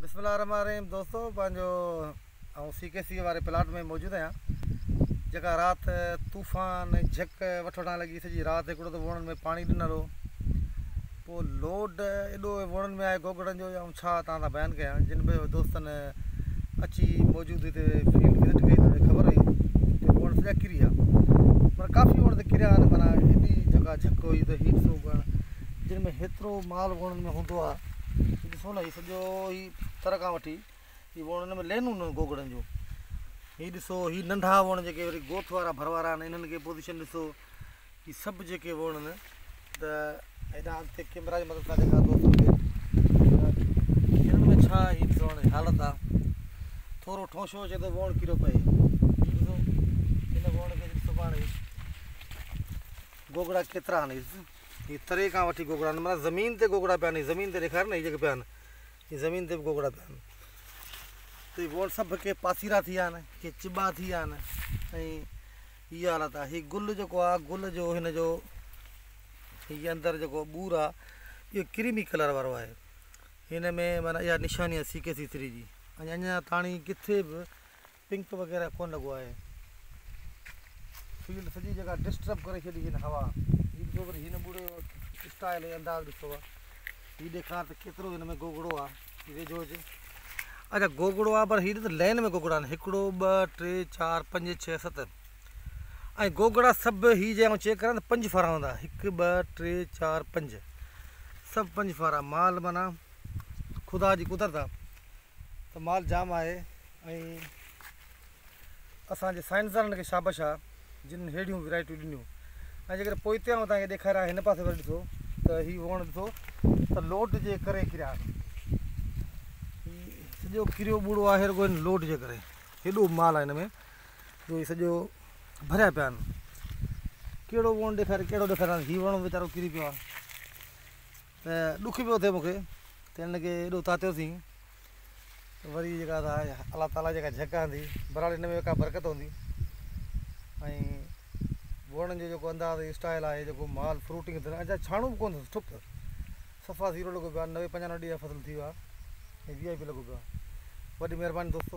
بسم الله الرحمٰن الرحيم دوستو پنهنجو آئون سي ڪي سي واري پلاٽ ۾ موجود آهيان جيڪا رات طوفان جهڪ وٺ وٺان لڳي سڄي رات هڪڙو ته ووڻن ۾ پاڻي ڏنل هو پوء لوڊ ايڏو ووڻن ۾ آهي گوگڙن جو آئون ڇا تان سان بيان ڪيان جن به دوستن اچي موجود هتي فيلڊ وزٽ ڪئي ته خبر هئي جو ووڻ سڄا ڪري ويا پر ڪافي ووڻ ته ڪريا آهن مانا ايڏي جيڪا جهڪ هئي ته هيٺ سوڪڻ جن ۾ هيترو مال ووڻن ۾ هوندو آهي ھي ڏسو نھ ھي سڄو ھي تر کان وٺي ھي ووڻ ھن ۾ لينون نھ گوگڙن جون ھي ڏسو ھي ننڍا ووڻ جيڪي وري گوٿ وارا ڀر وارا آھن انھن کي پوزيشن ڏسو ھي سڀ جيڪي ووڻ نھ ته ھيڏانھن اڳتي ڪيمرا جي مدد سان ڏيکاريا ٿو ھنن ۾ ڇا ھي ڏسو ھاڻي حالت آ ٿورو ٺونشو اچي ته ووڻ ڪيرو پئي ھي ڏسو ھن ووڻ کي ڏسو پاڻ ھي گوگڙا ڪيترا آھن هي تري کان وٺي گوگڙا آهن معنيٰ زمين تي گوگڙا پيا آهن هي زمين تي ڏيکار نه هي جيڪي پيا آهن هي زمين تي به گوگڙا پيا آهن ته هي وڻ سڀ ڪي پاسيرا ٿي ويا آهن ڪي چٻا ٿي ويا آهن ۽ هي حالت آهي هي گل جيڪو آهي گل جو هن جو هي اندر جيڪو ٻور آهي اهو ڪريمي ڪلر وارو آهي هن ۾ معنيٰ اها نشاني آهي سي ڪي سي ٿري جي ۽ اڃا تاڻي ڪٿي به پنڪ وغيره ڪون لڳو آهي. فيلڊ سڄي جيڪا ڊسٽرب ڪري ڇڏي هن هوا هي ڏسو وري هن ٻوڙي جو اسٽائل ۽ انداز ڏسو آ هي ڏيکار ته ڪيترو هن ۾ گوگڙو آ هي ويجهو هجي اچا گوگڙو آ پر هي ڏس لين ۾ گوگڙا آهن هڪڙو ٻه ٽي چار پنج ڇهه ست ۽ گوگڙا سڀ هي جي آئون چيڪ ڪريان ته پنج ڦارا هوندا هڪ ٻه ٽي چار پنج سڀ پنج ڦارا مال معنيٰ خدا جي قدرت آ ته مال جام آهي ۽ اسان جي سائنسدانن کي شابش آ جن ههڙيون ويرائٽيون ڏنيون ۽ جيڪڏهن پوئتيان اوهان کي ڏيکاريان هن پاسي وري ڏسو ته هي ووڻ ڏسو ته لوڊ جي ڪري ڪريا هي سڄو ڪريو ٻوڙو آهي رڳو هن لوڊ جي ڪري هيڏو مال آهي هن ۾ جو هي سڄو ڀريا پيا آهن ڪهڙو ووڻ ڏيکاري ڪهڙو ڏيکاريان هي ووڻ ويچارو ڪري پيو آهي ته ڏک پيو ٿئي مون کي ته هنن کي ايڏو تاتيو سين ته وري جيڪا سا الله تعاليٰ جيڪا جهڪ هندي برحال هن ۾ ڪا برڪت هوندي ۽ ووڙن جو جيڪو انداز اسٽائل آهي جيڪو مال فروٽنگ ٿيل اڃا ڇاڻو به ڪونه ٺپ صفا زيرو لڳو پيو آهي نوي پنجانوي ڏينهن فصل ٿي ويو آهي ۽ وي آء پي لڳو پيو آهي وڏي مهرباني دوستو